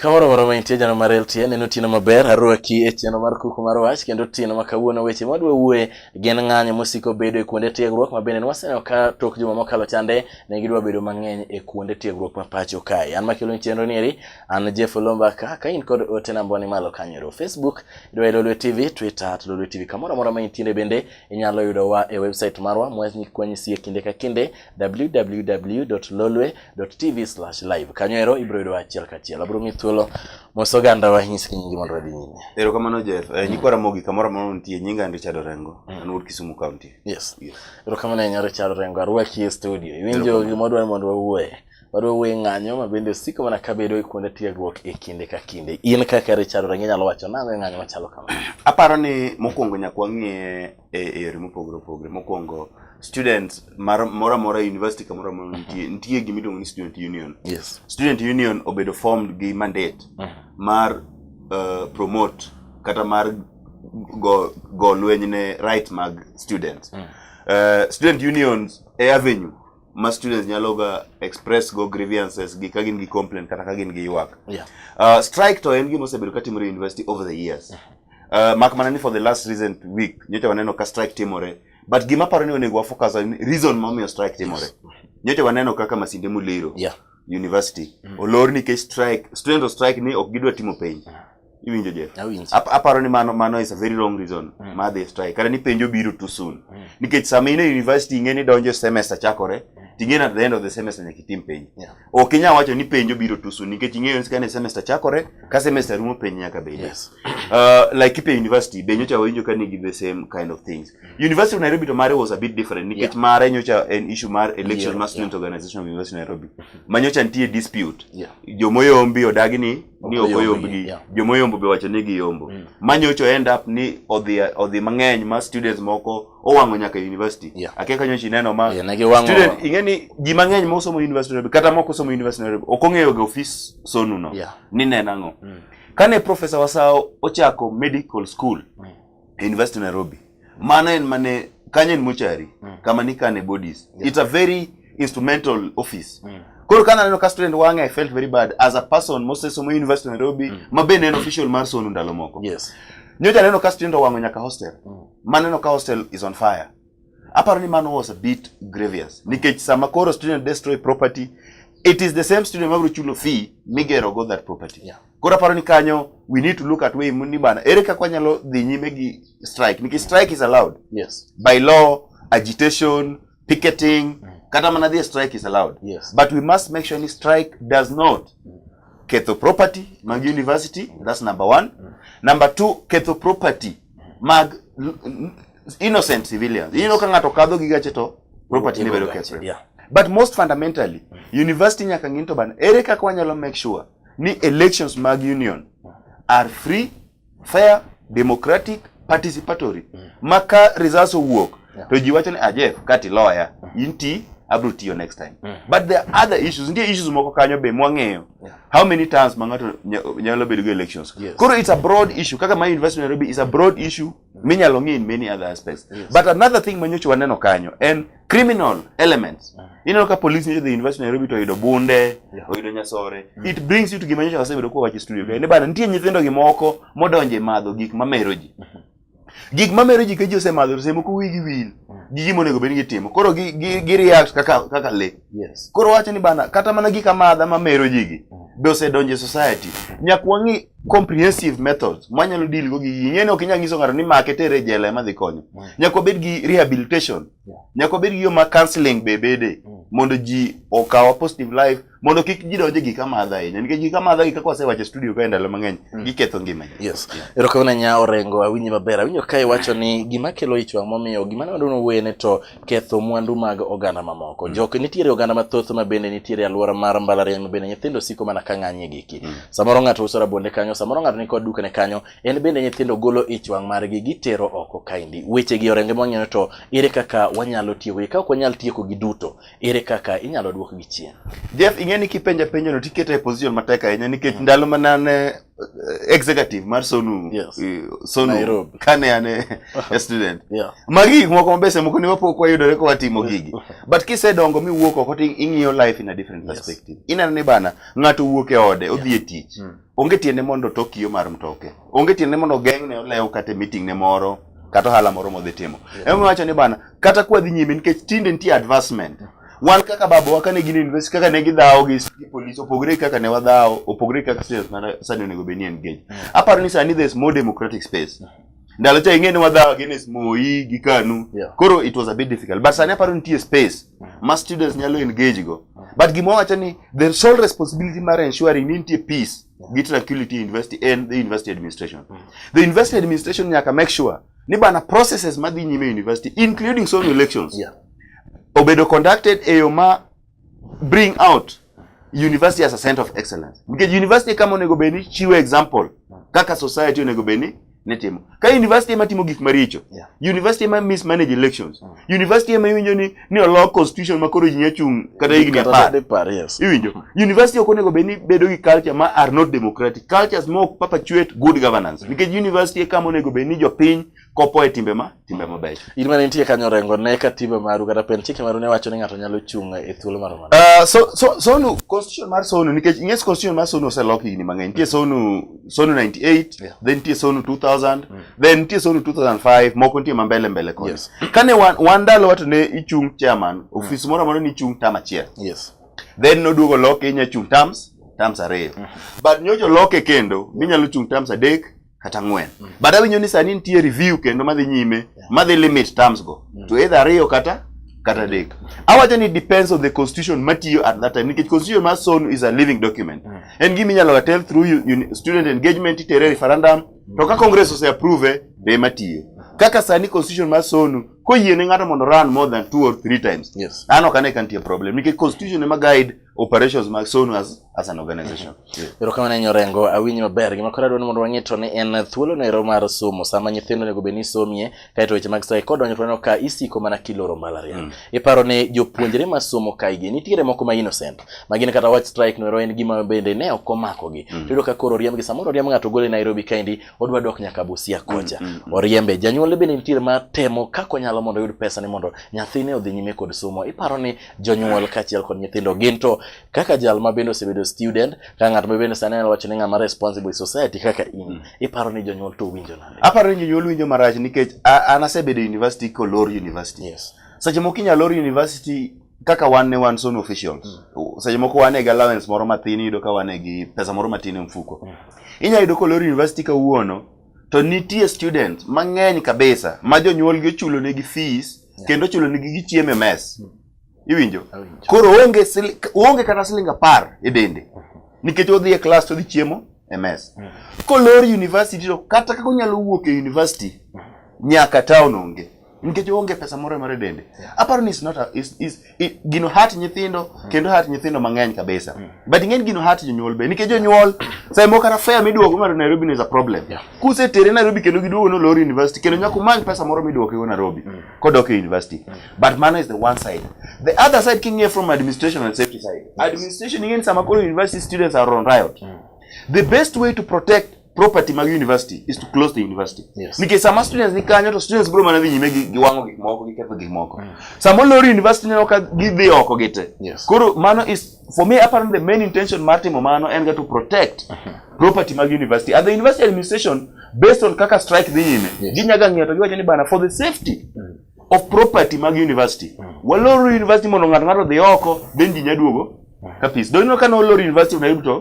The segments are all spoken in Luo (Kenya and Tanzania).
Kamoro moro ma intie jana mar LTN neno otieno maber arwaki e chenro mar kuku mar wach kendo otieno ma kawuono weche ma dwa wuoye gin ng'anyo mosiko bedo e kuonde tiegruok ma bende nwaseneno ka tok juma mokalo chande ne gidwa bedo mang'eny e kuonde tiegruok ma pacho kae. An makelo chenro ni eri An Jeff Olomba ka ka in kod ote namba ni malo kanyero Facebook idwa e Lolwe TV, Twitter at Lolwe TV. Kamoro amora ma intiere bende inyalo yudo wa e website marwa mwani kwenye sie kinde ka kinde www.lolwe.tv/live. Kanyero ibro yudo achiel ka achiel. Abro mi thuolo moso ganda wa nyis kinyingi mondo wadhi nyime. Ero kamano Jeff, eh, nyikwara mogi kamoro amora nitie nyinga ndi Chado Rengo, mm. an wuod Kisumu County. Yes. Ero kamano nyaro Chado Rengo, arwaki e studio. Iwinjo gimodwa mondo wawuoye. Roweng' ng'anyo ma bende osiko mana kabedo e kuonde tiegruok e kinde ka kinde. In kaka Richard Orengo inyalo wacho nang'o e ng'anyo machalo kama? Aparo ni mokwongo nyaka wang'e e yore mopogore opogore. Mokwongo students moro amora e university kamoro amora nitie nitie gima iluongo ni student union. Yes. Student union obedo formed gi mandate mm. mar uh, promote kata mar go, go lweny ne right mag students. Mm. Uh, student unions e avenue ma students nyalo ga express go grievances gi ka gin gi complaint kata ka gin gi ywak yeah. uh, strike to en gima osebedo ka timore university over the years uh, mak mana ni for the last recent week nyocha waneno ka strike timore but gima paro ni onego wafocus on reason momiyo strike timore nyocha waneno kaka masinde muliro yeah. university mm. olor nikech strike student strike ni ok gidwa timo penj yeah. iwinjo je aparo ni mano mano is a very wrong reason mm. ma adhi strike kata ni penjo biro too soon mm. nikech sama in e university ing'e ni donjo semester chakore mm. ting'e at the end of the semester nyaka itim penjo yeah. ok inyal wacho ni penjo biro too soon nikech ing'eyo ni kane semester chakore ka semester rumo penjo nyaka bed yes. uh, like kipe university be nyocha wawinjo ka nigi the same kind of things mm. university of nairobi to mare was a bit different nikech yeah. mare nyocha en issue mar election yeah. mar student yeah. organization of university of nairobi mm-hmm. ma nyocha nitie dispute yeah. jomoyombi odagi ni ni ok oyombgi yeah. joma oyombo be wacho ni giyombo mm. manyocho end up ni odhi odhi mang'eny ma students moko owang'o nyaka university yeah. akia kanyo chi neno ma yeah, nagiwango... student ing'e ni ji mang'eny ma osomo university Nairobi kata moko osomo university Nairobi ok ong'eyo ga ofis sonu no yeah. ni neno ang'o mm. kane professor Wasao ochako medical school mm. University Nairobi. Mano en mane kanyo en mochari mm. kama nikane bodies. Yeah. It's a very instrumental office. Mm. Koro kana neno ka student wange I felt very bad as a person mostly somo University Nairobi mm. mabe neno official mar sono ndalo moko. Yes. Nyocha neno ka student owango nyaka hostel. Mm. Maneno ka hostel is on fire. Aparo ni mano was a bit grievous nikech sama koro student destroy property it is the same student mabiro chulo fee migero go that property. Yeah. Koro aparo ni kanyo we need to look at way ni bana ere kaka wanyalo dhi nyime gi strike nikech strike is allowed. Yes. By law, agitation, picketing, mm. kata mana dhi strike is allowed. Yes. But we must make sure ni strike does not mm. ketho property mag university, mm. that's number one. Mm. Number two, ketho property mag innocent civilians. Ineno ka ng'ato kadho gi gache to property ne bedo kethre. Yeah. But most fundamentally, university nyaka ng'in to ban ere kaka wanyalo make sure ni elections mag union are free, fair, democratic, participatory. Mm. Ma ka results owuok yeah. to ji wacho ni ajef ah, kati loya mm. inti abro tiyo next time. Mm. But there are other issues, nitie issues moko kanyo be mwang'eyo. Yeah. how many times ma ng'ato nyalo bedo gi elections yes. koro it's a broad issue kaka my university Nairobi is a broad issue mm. minyalo ng'i in many other aspects yes. but another thing ma nyocha waneno kanyo en criminal elements mm. ineno ka police nyocha the university Nairobi to oyudo bunde yeah. oyudo nyasore mm. it brings you to gima nyocha wasebedo kwa wache studio mm. ne bana nitie nyithindo gi moko modonje madho gik mamero ji mm -hmm. gik ma mero ji ka ji osemadho semo ko wigi wil gi gima onego bed ni gitimo koro gi gi gi react kaka kaka le Yes. koro wacho ni bana kata mana gik amadha ma mero ji gi be osedonjo e society nyaka wang'i comprehensive methods mwanyalo deal go gi gigi ing'e ni ok inyal nyiso ng'ato ni make tere e jela ema dhi konyo nyaka wabed gi rehabilitation nyaka wabed gi yo ma counseling be bede mondo ji okawa positive life mondo kik ji donje gik amadha ahinya nikech gik amadha gi kaka wasewacho studio kae ndalo mang'eny mm. giketho ngima ji yes erokamano nya orengo awinji maber awinjo ka iwacho ni gima kelo ich wang' momiyo gima nwadwa nowene to ketho mwandu mag oganda mamoko mm. jok nitiere oganda mathoth ma bende nitiere alwora mar mbalariany ma bende nyithindo siko mana ka ng'anyie giki mm. samoro ng'ato uso rabonde kanyo samoro ng'ato nikod dukane kanyo en bende nyithindo golo ich wang' margi gitero oko kaendi wechegi orenge mwang'eyo to ere kaka wanyalo tiyogi ka ok wanyal tieko gi duto ere kaka inyalo duokgi chien? Jeff, ing'e ni kipenja penjo no tikete e position matek ahinya nikech mm. ndalo mana ne eh, executive mar Sonu yes. Eh, Sonu Nairobi. kane an e student. yeah. Magi gik moko mabese moko ne wapok wayudore kwa timo gigi. But kisedongo mi wuok oko to ing'iyo life in a different yes. perspective. Ineno ni bana ng'ato wuok e ode yeah. odhi e tich. Mm. Onge tiende mondo tokiyo mar mtoke. Onge tiende mondo geng'ne olew kata e meeting ne moro kata ohala moro modhi timo. Yeah. Ema wacho ni bana kata kwa dhi nyime nikech tinde nitie advancement wan kaka babawa kane gin university kaka ne gidhawo gi police opogore kaka ne wadhawo opogore kaka serious mana sani onego bed ni engage mm. aparo ni sani there's more democratic space mm. ndalo cha ing'e ni wadhawo against Moi gi Kanu yeah. koro it was a bit difficult but sani aparo nitie space mm. ma students nyalo engage go but gima wawacho ni the sole responsibility mar ensuring ni nitie peace gi tranquility university and the university administration the university administration nyaka make sure ni bana processes madhi nyime university including some elections yeah. obedo conducted e yo ma bring out university as a center of excellence nikech university kama onego bed ni chiwo example kaka society onego bed ni nitimo ka university ema timo gik maricho yeah. university ema mismanage elections mm. university ema iwinjo ni ni olok constitution ma koro ji nya chung' kata higni apar. Iwinjo? University ok onego bed ni bedo gi culture ma are not democratic. Cultures ma ok perpetuate good governance. Nikech university e kama onego bed ni jopiny kopo e timbe ma timbe mabeyo. In mane nitie kanyo rengo ne ka timbe maru kata pen chike maru ne wacho ni ng'ato nyalo chung' e thuolo mar mano. Uh, so, so, sonu constitution mar sonu nikech ing'es constitution mar sonu oselok higni mang'eny. Nitie sonu Sonu 98 yeah. then nitie Sonu 2000 mm. then nitie Sonu 2005 moko nitie mambele mbele koni yes. kane wan, wan ndalo wato ne ichung chairman mm. ofis mm. moro amora ni ichung tam achiel yes. then noduogo loke inya chung tams tams ariyo mm. but nyocho loke kendo minyalo chung tams adek kata ng'wen mm. but awinyo ni sani nitie review kendo madhi nyime yeah. madhi limit terms go mm. to either ariyo kata kata adek awacho ni depends on the constitution matiyo at that time nikech constitution mar sono is a living document mm. en gima inyalo ga tell through u- uni- student engagement itere referendum to ka congress ose approve be ema tiyo kaka sani constitution mar sonu koyie ne ng'ato mondo run more than two or three times Yes. an ok ane ka nitie problem nikech constitution ema guide operations mag sonu as, as an organization erokamano ahinya orengo awinji maber gima koro adwani mondo wang'e to ni en thuolo no ero mar somo sama nyithindo onego bed ni somie Kaeto weche mag sae kodonjo to neno ka isiko mana kiloro malaria. Mm. Iparo ni jopuonjre ma somo kaigi nitiere moko ma innocent ma gin kata wach strike noero en gima bende ne ok omako gi. Mm. Tiyudo ka koro oriembgi samoro oriemb ng'ato gole Nairobi kaendi odwa dok nyaka Busia kocha. Mm, mm, mm. Oriembe janyuol bende nitiere ma temo kaka onyalo mondo oyud pesa ni mondo nyathine odhi nyime kod somo. Iparo ni jonyuol kaachiel kod nyithindo gin to kaka jal ma bende osebedo student ka ng'at ma bende sani wacho ni ng'ama responsible society kaka in mm. iparo ni jonyuol to winjo nade aparo ni jonyuol winjo marach nikech an asebedo e university kolor university yes seche moko inyalo lor university kaka wan ne wan son officials mm. seche moko wan e gi allowance moro mathin iyudo ka wan e gi pesa moro matin e mfuko mm. inyalo yudo kolor university kawuono to nitie students mang'eny kabisa ma jonyuolgi ochulonegi fees yeah. kendo ochulonegi gichiemo e mess mm. Iwinjo? Koro onge onge kata siling apar e dende. Nikech odhi e klas to odhi chiemo e mes. Mm. Kolor university to kata kaka onyalo wuok e university mm. nyaka town onge. Nikech onge pesa moro mare dende. Aparo ni is not a, is, is, is gino hat nyithindo mm. kendo hat nyithindo mang'eny kabisa. But ng'eny gino hat jonyuol be nikech jonyuol sai moko kata fare miduogo mar Nairobi is a problem. Kuse tere Nairobi kendo giduogo no lor university kendo nyaka umany pesa moro miduogo go Nairobi kodok e university. but mano is the one side the other side king'iye from administration and safety side administration ing'eni sama koro university students are on riot mm. the best way to protect property mag university is to close the university yes. nikech sama students ni kanyo to students biro mana dhi nyime gi giwang'o gik moko gi ketho gik moko mm. sama olor university neno ka gidhi oko gite yes. koro mano is for me apparently the main intention mar timo mano en ga to protect uh mm-hmm. -huh. property mag university and the university administration based on kaka strike dhi nyime yes. ginyaga ng'eyo to giwacho ni bana for the safety mm. of property mag university. Mm. Waloro university mondo ng'ato ng'ato dhi oko, then ji nyaduogo mm. ka peace. Donino ka noloro university of Nairobi to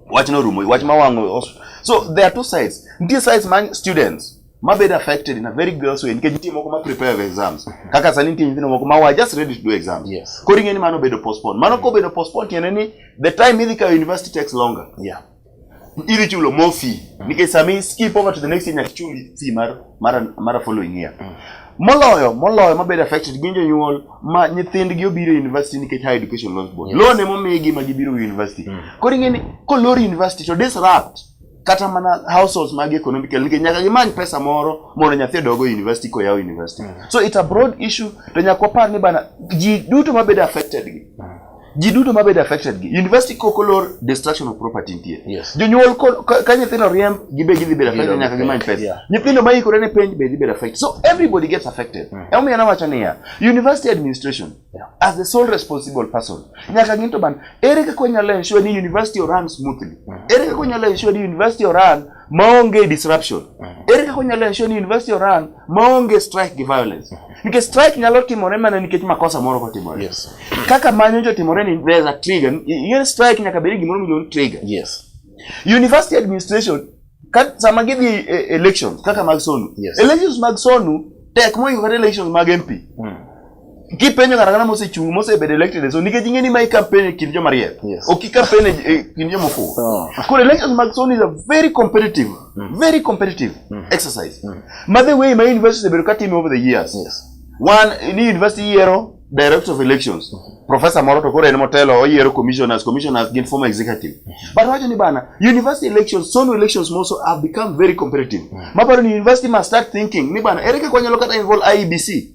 wach norumo, wach mawang'o. So there are two sides. Nitie sides man students mabedo affected in a very gross way nikech nitie moko ma prepare for exams mm-hmm. kaka sani nitie nyithindo moko ma wa just ready to do exams yes. koro ing'e ni mano obedo postpone mano kobedo postpone tiende ni the time idhi kawo university takes longer yeah. iritulo more fee mm. nikech sama i skip over to the next year nyaka ichuli fee mar mara mara following year mm. moloyo moloyo mabedo affected gin jonyuol ma nyithindgi obiro e university nikech high education loans board yes. loan emomigi ma gibiro e university mm. koro ing'eni kolor university to disrupt kata mana households mag economical nikech nyaka gimany pesa moro mondo nyathi odogo e university koyaw university mm. so it's a broad issue to nyaka wapar ni bana ji duto mabedo affected gi mm. ji duto mabedo affected gi university koko lor destruction of property nitie yes. jonyuol ka nyithindo riemb gibe gidhi bedo affected nyaka gimany pesa yeah. nyithindo ma ikore ne penj be dhi bedo affected so everybody gets affected mm. emomiyo nawacho niya university administration yeah. as the sole responsible person nyaka gin to ban ere kaka wanyalo ensure ni university oran smoothly mm. ere kaka wanyalo ensure ni university oran maonge disruption mm-hmm. ere kaka onyalo ensure ni university oran maonge strike gi violence mm-hmm. nikech strike nyalo timore mana nikech makosa moro kotimore yes. kaka manyo jotimore ni there's a trigger yen strike nyaka bedi gimoro miluongo trigger yes. university administration ka, sama gidhi e, e, elections kaka mag sonu yes. elections mag sonu tek moingo kata elections mag mp mm. kipenjo ng'ato ang'ata mosechung' mosebedo elected e zone nikech ing'e ni ma ikampen e kind joma riek Yes. ok ikampen e e kind joma ofuwo Oh. koro elections mag zone is a very competitive very competitive exercise ma the way ma university osebedo ka time over the years Yes. one ni university yiero director of elections professor moro to koro en motelo oyiero commissioners commissioners gin former executive but wacho ni bana university elections sono elections also have become very competitive maparo ni university must start thinking ni bana ere kaka wanyalo kata involve IEBC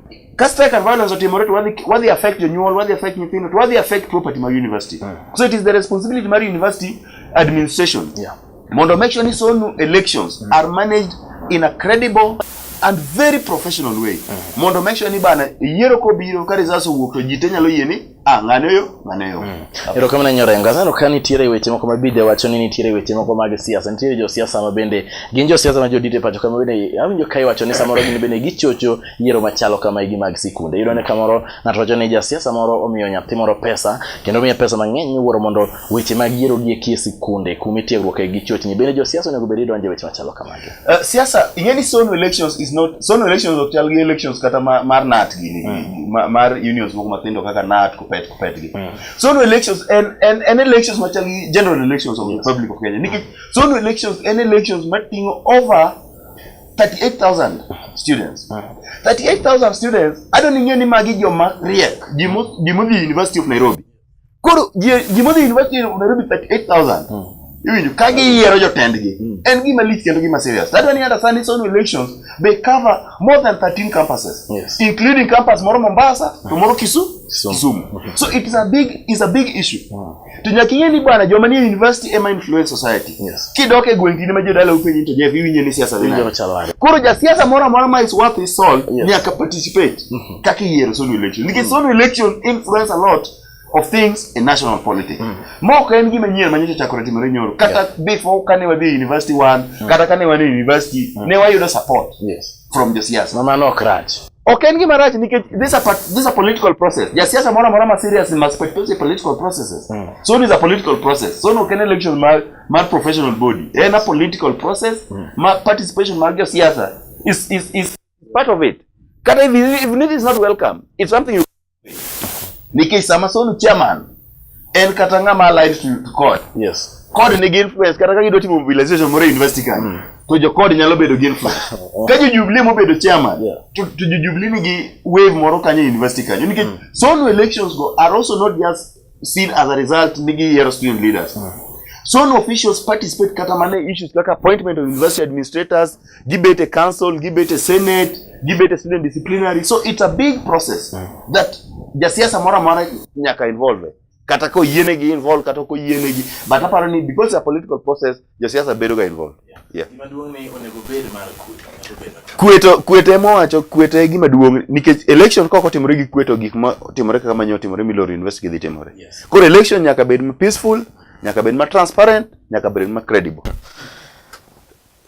Kasto eka violence otimore to wadhi wadhi affect jonyuol, wadhi affect nyithindo, to wadhi affect property ma university. Mm. So it is the responsibility mar university administration. Yeah. Mondo make sure ni sonu elections mm. are managed in a credible and very professional way. Mm. Mondo make sure ni bana yiero kobiro ka results owuok to ji te nyalo yie ni Ah, ng'ane yo, ng'ane yo. Mm. Erokamano Nyorenga. Sano ka nitiere weche moko ma bide wacho ni nitiere weche moko mag siasa. Nitiere jo siasa ma bende gin jo siasa ma jodite pacho kama bende awinjo ka iwacho ni samoro gin bende gichocho yiero machalo kama igi mag sikunde. Iyudo ni kamoro ng'ato wacho ni ja siasa moro omiyo nyathi moro pesa kendo miye pesa mang'eny miwuoro mondo weche mag yiero gi ekie sikunde kuma itiegruok e gi chochni bende josiasa onego bed idonje weche machalo kamagi uh, siasa ing'e ni zone elections is not zone elections ok chal gi elections kata ma, mar nat gini mm. ma, mar unions moko matindo kaka nat kupet kupet gi mm. zone elections en en en elections machal gi general elections of yes. the public of Kenya nikech mm. zone elections en elections matingo over 38,000 students. 38,000 students, I don't know ni magi joma riek, jimo, jimo the University of Nairobi. Koro ji modhi university of Nairobi 38,000. Mm. Iwinjo ka giyiero jotendgi. Mm. En gima lich kendo gima serious. That one other Sunday Sunday elections they cover more than 13 campuses yes. including campus moro Mombasa to moro Kisumu. Kisumu. Okay. So it is a big is a big issue. Wow. To nyaka ing'e ni bwana joma ni university ema influence society. Yes. Kidok e gweng' kinde ma jodala upenyi to jeff iwinjo ni siasa dhi. Koro ja siasa moro amora ma is worth his salt yes. nyaka participate. Mm -hmm. kaka iyiero solo election nikech solo election influence a lot of things in national politics mm. ma ok en gima nyien manyocha chakore timore nyoro kata yes. before kane wadhi e university one mm. kata kane wan e university mm. ne wayudo support yes. from josiasa mamano ok rach ok en gima rach nikech this a, this a political process jasiasa moro amora ma serious must participate political processes mm. so is a political process so no ken election mar, mar professional body en a political process mm. ma participation mar josiasa is, is, is Part of it. Kata if, if it is not welcome, it's something you Nikech sama sonu chairman en kata ng'ama alive to court. Yes. Court nigi influence kata ka gidwa timo mobilization moro university kan. Mm. To jo court nyalo bedo gi influence. Ka jo Jubilee mobedo chairman, yeah. to, to jo Jubilee nigi wave moro kanyo university kanyo nikech mm. sonu elections go are also not just seen as a result nigi yiero student leaders mm. so no officials participate kata mana e issues kaka appointment of university administrators gibet e council gibet e senate gibet e student disciplinary so it's a big process mm. that jasiasa moro amora nyaka involve kata ko yienegi involve kata ko yienegi but aparo ni because a political process Josiasa bedo ga involved. Yeah. Kweto kwete mowacho kwete gima duong nikech election kok otimore gi kweto gik ma otimore kaka manyo otimore Milori University dhi timore. Yes. Koro election nyaka bed ma peaceful, nyaka bed ma transparent, nyaka bed ma credible.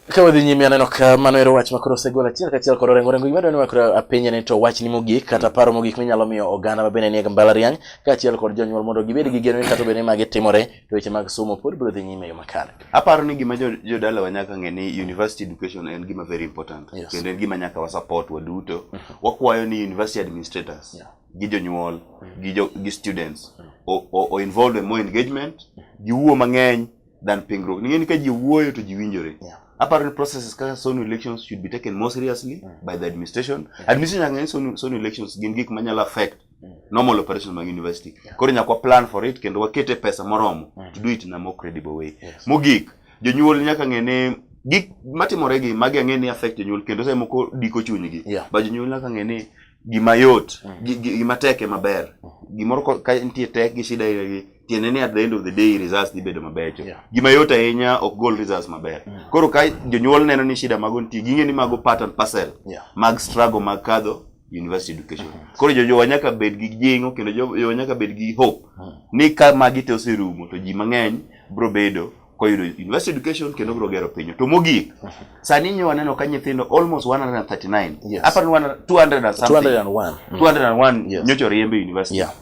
Ka wadhi nyime aneno ka mano ero wach makoro osegol achiel kachiel kod orengo orengo gimadwani wakoro apenje ni to wachni mogik kata mm. paro mogik minyalo miyo oganda mabende nie mbalariany kaachiel kod jonyuol mondo gibed gi geno ni kata obed ni magi timore to weche mag somo pod biro dhi nyime e yo makare. Aparo ni gima jodala jo wa nyaka ng'e ni university education en gima very important yes. kendo en gima nyaka wa support waduto. Mm -hmm. Wakwayo ni university administrators yeah. gi jonyuol mm -hmm. gi, jo, gi students mm -hmm. o, o, involved in more engagement mm -hmm. giwuo mang'eny than pingruok. Ning'eni ka ji wuoyo to ji winjore. Yeah. Aparo ni processes kaka sonu elections should be taken more seriously mm -hmm. by the administration. Yeah. Administration nyaka ng'e sonu, sonu elections gin gik manyalo affect Mm. normal operation mag university yeah. koro nyaka plan for it kendo wakete pesa moromo mm. to do it in a more credible way yes. mogik jonyuol nyaka ng'e ni gik matimore gi magi ang'e ni affect jonyuol kendo sa moko diko chunygi yeah. ba jonyuol nyaka ng'e ni gima yot mm. gima tek ema ber mm. gimoro ka nitie tek gi shida gi tiende ni at the end of the day results dhi bedo mabecho yeah. gima yot ahinya ok gol results maber mm. koro ka jonyuol neno ni shida mago nitie ging'e ni mago pattern parcel yeah. mag struggle mag kadho university education hmm. koro jojowa nyaka bed gi jingo kendo jojowa nyaka bed gi hope hmm. ni ka magi te oserumo to ji mang'eny bro bedo koyudo university education kendo bro gero pinyo to mogik hmm. sani nyo waneno ka nyithindo almost 139 yes. apani 200 and something 201 201 yes. nyocha oriembe university yeah.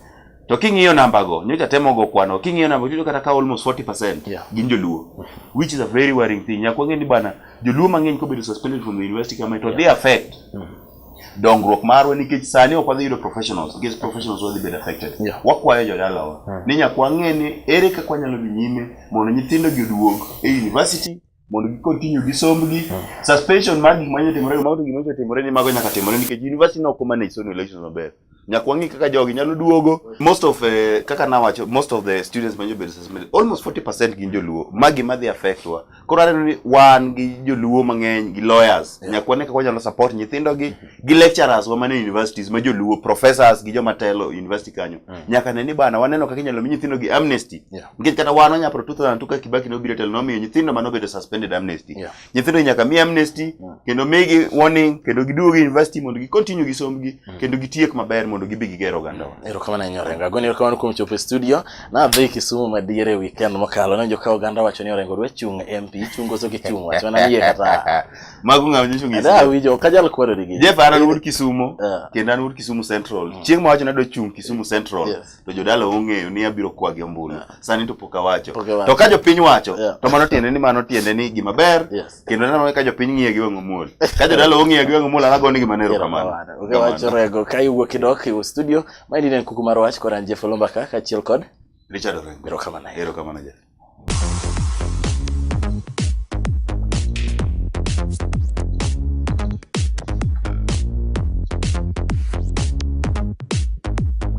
to king'iyo namba go nyocha temo go kwano king'iyo namba go kata ka almost 40% yeah. gin joluo which is a very worrying thing nyakwa ng'e ni bana joluo mang'eny kobedo suspended from the university kama to yeah. they affect mm -hmm. dongruok marwa nikech sani ok wadhi yudo professionals nikech professionals wadhi bedo affected yeah. wakwayo jodalawa hmm. ni nyaka wang'e ni ere kaka wanyalo dhi nyime mondo nyithindo gi oduog e university mondo gi continue gi sombgi hmm. suspension mar gik manyo timore mago gik manyo timore ni mago nyaka timore nikech university no ko manage sono elections maber nyaka wang'i kaka jogi nyalo duogo most of eh, kaka nawacho most of the students ma jobedo suspended almost 40 percent gin joluo ma gima dhi affect wa koro aneno ni wan gi joluo mang'eny gi lawyers nyaka wane kaka wanyalo support nyithindo gi gi lecturers wa mane universities ma joluo professors gi joma telo university kanyo nyaka ne ni bana waneno kaka inyalo mi nyithindo gi amnesty Yeah. nikech kata wan wanyapro 2002 ka kibaki nobiro e telo nomiyo nyithindo manobedo suspended amnesty Yeah. nyithindo nyaka mi amnesty yeah. kendo migi warning kendo giduogi university mondo gi continue gi sombgi mm. kendo gitiek maber mondo gibi giger oganda wa ero kama na nyore ngago ni kama nukum chopo studio na dhi kisumu madiere weekend mokalo na joka oganda wacho ni orengo dwe chung MP chungo so gichung wacho na yie kata mago ngam ni chungi da wijo kajal kwero digi je fara nur kisumu yeah. kendo nur kisumu central mm. chieng ma wacho na dwe chung kisumu central yes. to jodala ong'eyo ni abiro kwa gi ombulu yeah. sani to pok awacho to ka jopiny wacho yeah. to mano tiende ni mano tiende ni gima ber yes. kendo nanone ka jopiny ng'iye gi wang'o muol ka jodala ong'iye gi wang'o muol anago ni gima nero kamano okay, wacho rego ka iwuok idok iwu studio ma ni ne kuku mar wach koran Jeff Olomba ka kachiel kod Richard Orengo erokamano erokamano Jeff